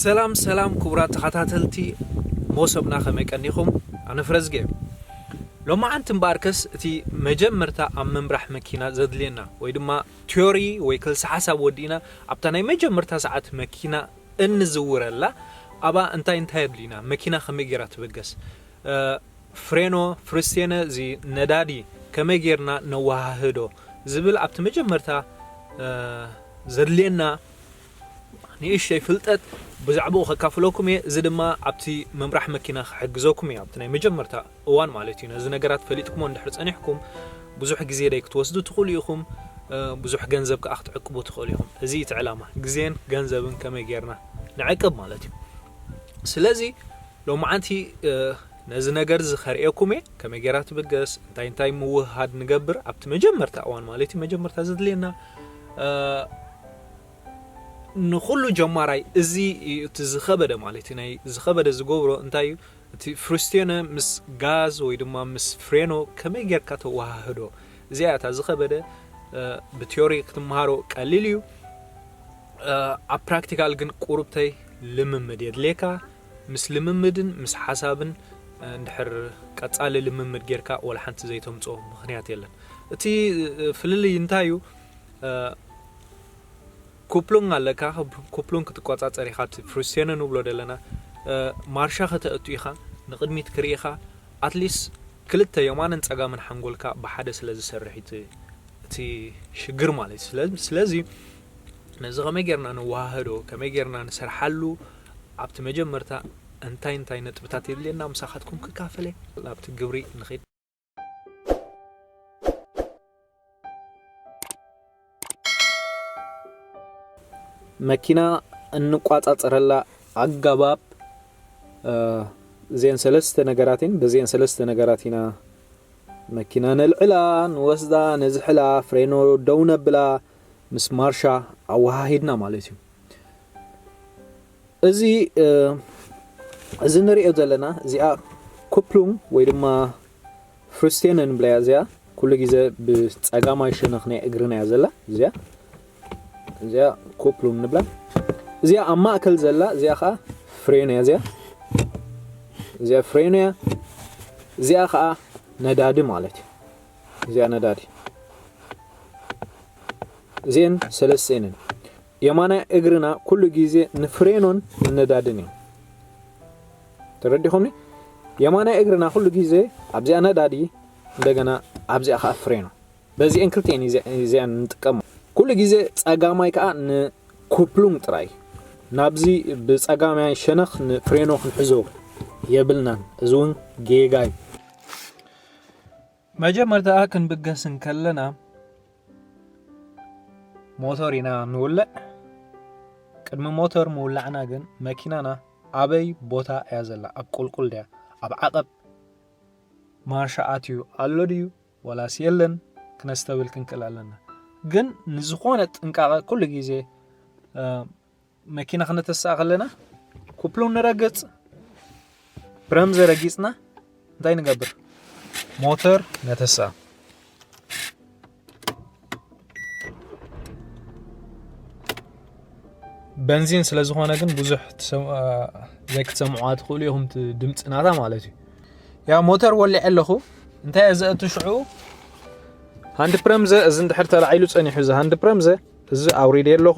ሰላም ሰላም ክቡራት ተኸታተልቲ ሞሰብና ከመይ ቀኒኹም ኣነ ፍረዝገ እየ ሎማዓንቲ እምበኣርከስ እቲ መጀመርታ ኣብ ምምራሕ መኪና ዘድልየና ወይ ድማ ትዮሪ ወይ ክልሲ ሓሳብ ወዲእና ኣብታ ናይ መጀመርታ ሰዓት መኪና እንዝውረላ ኣብኣ እንታይ እንታይ ኣድልዩና መኪና ከመይ ጌራ ትበገስ ፍሬኖ ፍርስቴነ እዚ ነዳዲ ከመይ ጌርና ነወሃህዶ ዝብል ኣብቲ መጀመርታ ዘድልየና ንእሽተይ ፍልጠት ብዛዕብኡ ከካፍለኩም እየ እዚ ድማ ኣብቲ ምምራሕ መኪና ክሕግዘኩም እዩ ኣብቲ ናይ መጀመርታ እዋን ማለት እዩ ነዚ ነገራት ፈሊጥኩሞ እንድሕር ጸኒሕኩም ብዙሕ ግዜ ደይ ክትወስዱ ትኽእሉ ኢኹም ብዙሕ ገንዘብ ከኣ ክትዕቅቡ ትኽእሉ ኢኹም እዚ እቲ ዕላማ ግዜን ገንዘብን ከመይ ጌርና ንዕቅብ ማለት እዩ ስለዚ ሎማዓንቲ ነዚ ነገርዚ ከርእየኩም'የ ከመይ ጌራ ትብገስ እንታይ እንታይ ምውህሃድ ንገብር ኣብቲ መጀመርታ እዋን ማለት'ዩ መጀመርታ ዘድልየና ንኹሉ ጀማራይ እዚ እዩ እቲ ዝኸበደ ማለት እዩ ናይ ዝኸበደ ዝገብሮ እንታይ እዩ እቲ ፍሪስቴነ ምስ ጋዝ ወይ ድማ ምስ ፍሬኖ ከመይ ጌርካ ተወሃህዶ እዚኣ እታ ዝኸበደ ብቴዎሪ ክትመሃሮ ቀሊል እዩ ኣብ ፕራክቲካል ግን ቁርብተይ ልምምድ የድልየካ ምስ ልምምድን ምስ ሓሳብን እንድሕር ቀጻሊ ልምምድ ጌርካ ወላ ሓንቲ ዘይተምጽኦ ምኽንያት የለን። እቲ ፍልልይ እንታይ እዩ ኩፕሉንግ ኣለካ ኩፕሉንግ ክትቆጻጸር ኢኻ እቲ ፍሩስቴነ ንብሎ ዘለና ማርሻ ከተእቱ ኢኻ ንቕድሚት ክርኢ ኢኻ ኣትሊስ ክልተ የማንን ጸጋምን ሓንጎልካ ብሓደ ስለ ዝሰርሕ እቲ ሽግር ማለት እዩ ስለዚ ነዚ ከመይ ጌርና ነወሃህዶ ከመይ ጌርና ንሰርሓሉ ኣብቲ መጀመርታ እንታይ እንታይ ነጥብታት የድልየና ምሳኻትኩም ክካፈለ ናብቲ ግብሪ ንኽድ መኪና እንቋጻጸረላ ኣገባብ እዚአን ሰለስተ ነገራት እየን በዚአን ሰለስተ ነገራት ኢና መኪና ነልዕላ ንወስዳ ነዝሕላ ፍሬኖ ደው ነብላ ምስ ማርሻ ኣወሃሂድና ማለት እዩ እዚ እዚ ንሪኦ ዘለና እዚኣ ኩፕሉም ወይ ድማ ፍርስቴን እንብለያ እዚኣ ኩሉ ግዜ ብፀጋማይ ሸነኽ ናይ እግርና እያ ዘላ እዚኣ እዚኣ ኩፕሉም ንብላ እዚኣ ኣብ ማእከል ዘላ እዚኣ ከዓ ፍሬን እያ እዚኣ እዚኣ ፍሬን እያ እዚኣ ከዓ ነዳዲ ማለት እዩ እዚኣ ነዳዲ እዚኤን ሰለስቴን እየን። የማናይ እግርና ኩሉ ግዜ ንፍሬኖን ንነዳድን እዩ። ተረዲኹምኒ? የማናይ እግርና ኩሉ ግዜ ኣብዚኣ ነዳዲ እንደገና ኣብዚኣ ከዓ ፍሬኖ በዚኤን ክልቲኤን እዚኣን ንጥቀሙ። ኩሉ ግዜ ፀጋማይ ከዓ ንኩፕሉንግ ጥራይ ናብዚ ብፀጋማይ ሸነኽ ንፍሬኖ ክንሕዞ የብልናን። እዚ እውን ጌጋ እዩ። መጀመርታ ክንብገስ እንከለና ሞተር ኢና ንውልዕ ቅድሚ ሞተር ምውላዕና ግን መኪናና ኣበይ ቦታ እያ ዘላ ኣብ ቁልቁል ድያ ኣብ ዓቐብ ማርሻ ኣትዩ ኣሎ ድዩ ወላስ የለን ክነስተብል ክንክእል ኣለና ግን ንዝኾነ ጥንቃቐ ኩሉ ግዜ መኪና ክነተስኣ ከለና ኩፕሉ ንረግፅ ብረም ዘረጊፅና እንታይ ንገብር ሞተር ነተስኣ በንዚን ስለ ዝኾነ ግን ብዙሕ ዘይክትሰምዑዋ ትኽእሉ ኢኹም ድምፂ ናታ ማለት እዩ ያ ሞተር ወሊዐ ኣለኹ እንታይ እየ ዘእቱ ሽዑ ሃንድ ፕረምዘ እዚ እንድሕር ተላዒሉ ፀኒሑ እዚ ሃንድ ፕረምዘ እዚ ኣውሪደ ኣለኹ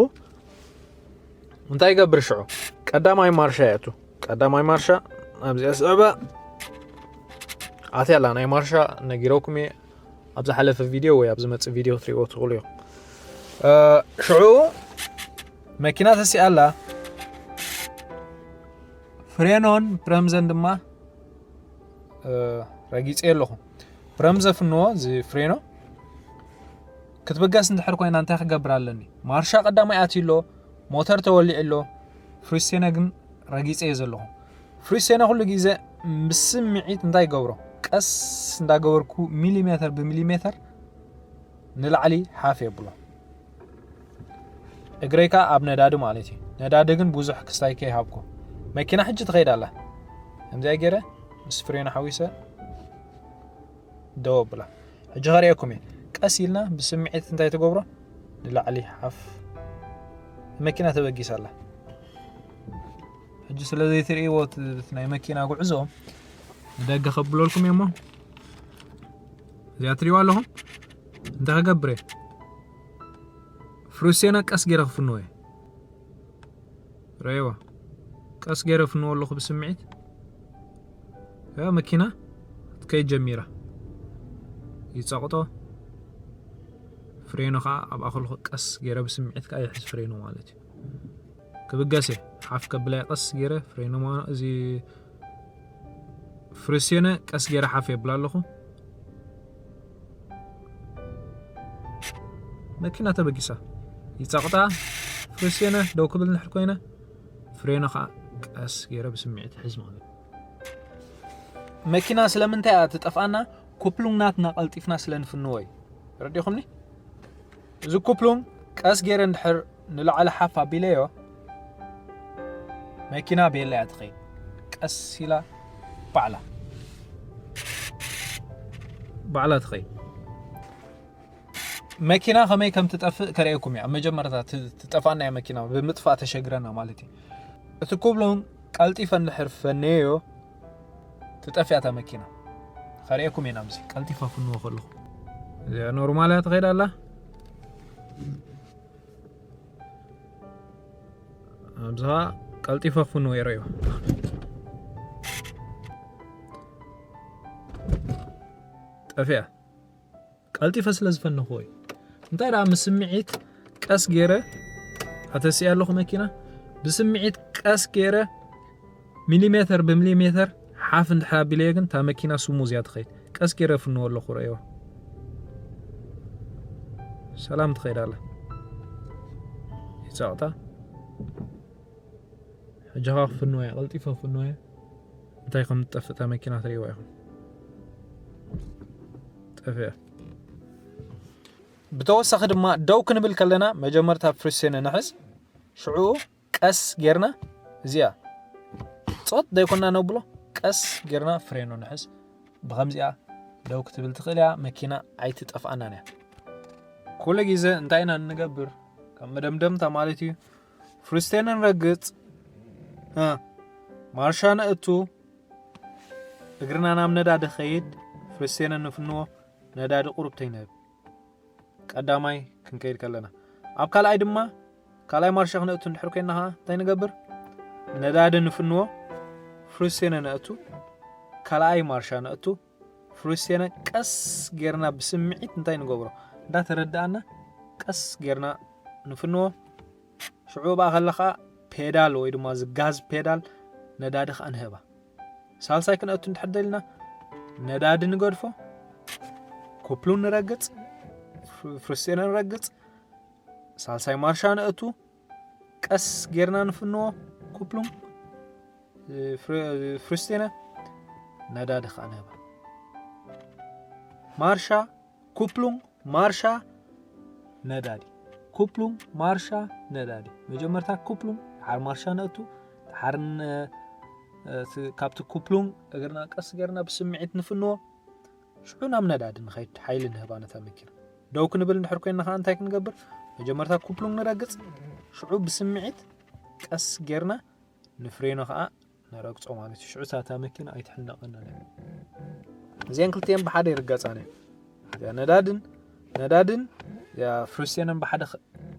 እንታይ ይገብር ሽዑ ቀዳማይ ማርሻ ይኣቱ ቀዳማይ ማርሻ ኣብዚኣ ስዕባ ኣትያ ኣላ ናይ ማርሻ ነጊረኩም እየ ኣብ ዝሓለፈ ቪድዮ ወይ ኣብ ዝመፅእ ቪድዮ ክትሪእዎ ትኽእሉ እዮም ሽዑ መኪና ተሲኣ ኣላ ፍሬኖን ብረምዘን ድማ ረጊፀ ኣለኹ ብረምዘ ፍንዎ እዚ ፍሬኖ ክትብገስ እንድሕር ኮይና እንታይ ክገብር ኣለኒ? ማርሻ ቀዳማይ ኣትዩ ኣሎ፣ ሞተር ተወሊዑ ኣሎ፣ ፍሪስቴነ ግን ረጊጸ እየ ዘለኹ። ፍሪስቴነ ኩሉ ግዜ ብስምዒት እንታይ ይገብሮ? ቀስ እንዳገበርኩ ሚሊሜተር ብሚሊሜተር ንላዕሊ ሓፍ የብሎ። እግረይ ከዓ ኣብ ነዳዲ ማለት እዩ። ነዳዲ ግን ብዙሕ ክስታይ ከይሃብኩ መኪና ሕጂ ትኸይድ ኣላ። ከምዚኣ ገይረ ምስ ፍሬን ሓዊሰ ደው ኣብላ ሕጂ ከርእየኩም እየ ቀስ ኢልና ብስምዒት እንታይ ትገብሮ ንላዕሊ ሓፍ መኪና ተበጊሳ ኣላ ሕጂ ስለ ዘይትርእይዎ ናይ መኪና ጉዕዞ ንደገ ከብለልኩም እየ እሞ እዚኣ ትርእይዋ ኣለኹም እንታይ ክገብር እየ ፍሩሴና ቀስ ገይረ ክፍንዎ እየ ረኣይዋ ቀስ ገይረ ፍንዎ ኣለኹ ብስምዒት ያ መኪና ክትከይድ ጀሚራ ይጸቕጦ ፍሬኑ ከዓ ኣብ ኣኸልኩ ቀስ ገይረ ብስምዒት ከዓ ይሕዝ ፍሬኑ ማለት እዩ ክብገሰ ሓፍ ከብላይ ቀስ ገይረ ፍሬኑ እዚ ፍሬስዮነ ቀስ ጌረ ሓፍ የብላ ኣለኹ። መኪና ተበጊሳ ይጸቕጣ ፍሬስዮነ ደው ክብል እንድሕር ኮይነ ፍሬነ ከኣ ቀስ ጌረ ብስምዒት ይሕዝ ማለት መኪና ስለምንታይ እያ ትጠፍኣና ኩፕሉንግናትና ቀልጢፍና ስለ ንፍንዎ እዩ ረዲኹምኒ እዚ ኩፕሉንግ ቀስ ጌረ እንድሕር ንላዕሊ ሓፍ ኣቢለዮ መኪና ቤላ እያ ትኸይድ ቀስ ኢላ ባዕላ ባዕላ ትኸይድ መኪና ከመይ ከም ትጠፍእ ከርእየኩም እያ ኣብ መጀመርታ ትጠፍኣና እያ መኪና ብምጥፋእ ተሸግረና ማለት እዩ እቲ ኩብሎም ቀልጢፈ እንድሕር ፈነዮ ትጠፍእ እያ እታ መኪና ከርእየኩም እየ ናብዚ ቀልጢፈ ፍንዎ ከለኹ እዚኣ ኖርማል እያ ትኸይድ ኣላ ኣብዚ ኸዓ ቀልጢፈ ፍንዎ የርእዮ ጠፍያ ቀልጢፈ ስለ ዝፈነኽዎ እዩ እንታይ ደኣ ምስ ስምዒት ቀስ ገይረ ኣተሲኣ ኣለኹ መኪና ብስምዒት ቀስ ገይረ ሚሊሜተር ብሚሊሜተር ሓፍ እንድሕር ኣቢለየ ግን እታ መኪና ስሙዝ እያ ትኸይድ ቀስ ገይረ ፍንዎ ኣለኹ ረእዋ ሰላም ትኸይድ ኣላ ይፀቕጣ ሕጂ ኸ ክፍንወ እያ ቀልጢፈ ክፍንወ እያ እንታይ ከም ትጠፍእ እታ መኪና ትርእይዋ ኢኹም ጠፍያ ብተወሳኺ ድማ ደው ክንብል ከለና መጀመርታ ፍሪሴነ ንሕዝ ሽዑኡ ቀስ ጌርና እዚኣ ፆት ዘይኮና ነብሎ ቀስ ጌርና ፍሬኖ ንሕዝ ብከምዚኣ ደው ክትብል ትኽእል እያ መኪና ኣይትጠፍኣናን እያ ኩሉ ግዜ እንታይ ኢና እንገብር ከም መደምደምታ ማለት እዩ ፍልስጤንን ረግጽ ማርሻ ነእቱ እግርና ናብ ነዳዲ ኸይድ ፍልስጤንን ንፍንዎ ነዳዲ ቁሩብ ተይንህብ ቀዳማይ ክንከይድ ከለና ኣብ ካልኣይ ድማ ካልኣይ ማርሻ ክነእቱ እንድሕር ኮይና ከዓ እንታይ ንገብር ነዳዲ ንፍንዎ ፍልስጤንን ነእቱ ካልኣይ ማርሻ ነእቱ ፍሉስቴና ቀስ ጌርና ብስምዒት እንታይ ንገብሮ እንዳ ተረዳኣና ቀስ ጌርና ንፍንዎ ሽዑ ብኣ ከለ ከዓ ፔዳል ወይ ድማ ዝጋዝ ፔዳል ነዳዲ ከዓ ንህባ ሳልሳይ ክንኣቱ እንድሕር ደልና ነዳዲ ንገድፎ ኩፕሉ ንረግፅ ፍሉስቴና ንረግፅ ሳልሳይ ማርሻ ንእቱ ቀስ ጌርና ንፍንዎ ኩፕሉም ፍርስቴነ ነዳዲ ከዓ ንህባ ማርሻ ኩፕሉም ማርሻ ነዳዲ ኩፕሉም ማርሻ ነዳዲ መጀመርታ ኩፕሉም ሓር ማርሻ ነእቱ ሓር ካብቲ ኩፕሉም እግርና ቀስ ጌርና ብስምዒት ንፍንዎ ሽዑ ናብ ነዳዲ ንኸይድ ሓይሊ ንህባ ነታ መኪና። ደው ክንብል እንድሕር ኮይና ከኣ እንታይ ክንገብር? መጀመርታ ኩፕሉንግ ንረግጽ፣ ሽዑ ብስምዒት ቀስ ጌርና ንፍሬኖ ከኣ ንረግጾ ማለት እዩ። ሽዑ ሳታ መኪና ኣይትሕነቐናን እያ። እዚኣን ክልቲኤን ብሓደ ይርገጻን እየን። እዚኣ ነዳድን ነዳድን እዚኣ ፍሪስቴንን ብሓደ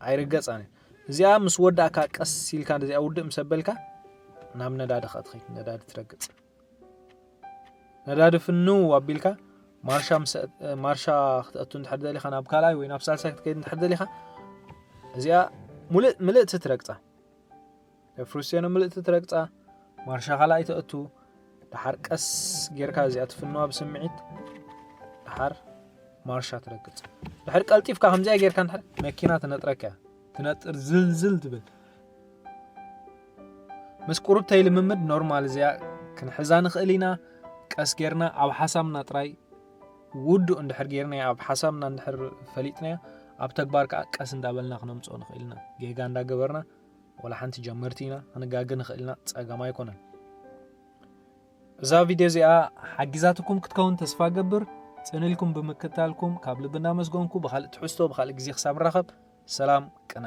ኣይርገጻን እየን። እዚኣ ምስ ወዳእካ ቀስ ኢልካ እዚኣ ውድእ ምስ ኣበልካ ናብ ነዳዲ ከኣ ትኸይድ ነዳዲ ትረግጽ። ነዳዲ ፍንው ኣቢልካ ማርሻ ማርሻ ክትኣቱ እንድሕር ደሊኻ ናብ ካልኣይ ወይ ናብ ሳልሳይ ክትከይድ እንድሕር ደሊኻ እዚኣ ሙልእ ምልእቲ ትረግፃ ፍሩሴኖ ምልእቲ ትረግፃ ማርሻ ካልኣይ ተእቱ ድሓር ቀስ ጌርካ እዚኣ ትፍንዋ ብስምዒት ድሓር ማርሻ ትረግፅ ድሕር ቀልጢፍካ ከምዚኣ ጌርካ ንድሕር መኪና ትነጥረካ ትነጥር ዝልዝል ትብል ምስ ቁርብተይ ልምምድ ኖርማል እዚኣ ክንሕዛ ንኽእል ኢና ቀስ ጌርና ኣብ ሓሳብና ጥራይ ውዱእ እንድሕር ጌርናያ ኣብ ሓሳብና እንድሕር ፈሊጥናያ ኣብ ተግባር ከዓ ቀስ እንዳበልና ክነምፅኦ ንኽእል ኢና ጌጋ እንዳገበርና ወላ ሓንቲ ጀመርቲ ኢና ክንጋገ ንኽእል ኢና ፀገም ኣይኮነን እዛ ቪድዮ እዚኣ ሓጊዛትኩም ክትከውን ተስፋ ገብር ፅንልኩም ብምክታልኩም ካብ ልቢ እናመስገንኩ ብካልእ ትሕዝቶ ብካልእ ግዜ ክሳብ ንራኸብ ሰላም ቅነ።